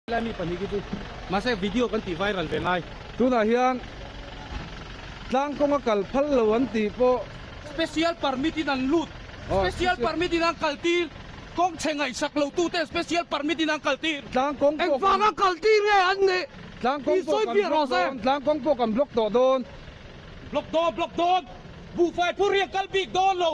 Helai mi pahnih hi chu mahse video kan tih viral ve ngai. Tunah hian tlang kawnga kal phal lo an tih pawh. Special permit in an lut. Special permit in an kal tir. Kawng chhe ngaihsak lo tu ten special permit in an kal tir. Tlang kawng pawh. Engvang a kal tir nge an nih? Tlang kawng pawh kan block dawn. Tlang kawng pawh kan block tawh dawn. Block dawn, block dawn. Buhfai phu riang kal bik dawn lo.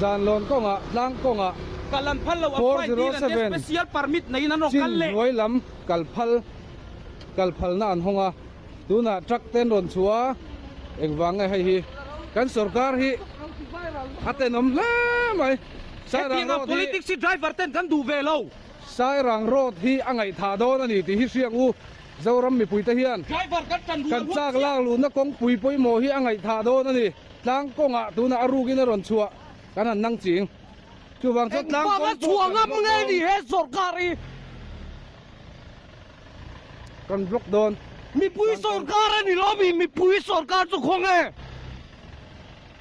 Zanlawn kawngah, tlang kawngah, four zero seven Chin hnuai lam kal phal, kal phalna an hawng a, tunah truck te an rawn chhuah a, engvang nge hei hi kan sorkar hi a tenawm hle mai, Sairang road hi. Sairang road hi a ngaihthah dawn a ni tih hi hriang u Zoram mipuite hian kan chak lak luhna kawngpui pawimawh hi a ngaihthah dawn a ni, tlang kawngah tunah a rukin a rawn chhuah kan han nang ching. Chuvang chuan tlang kawng pawh kan block dawn. Engmang a chhuah ngam nge ni he sorkar hi? Kan block dawn. Mipui sorkar a ni lo a mi mipui sorkar chu khawnge?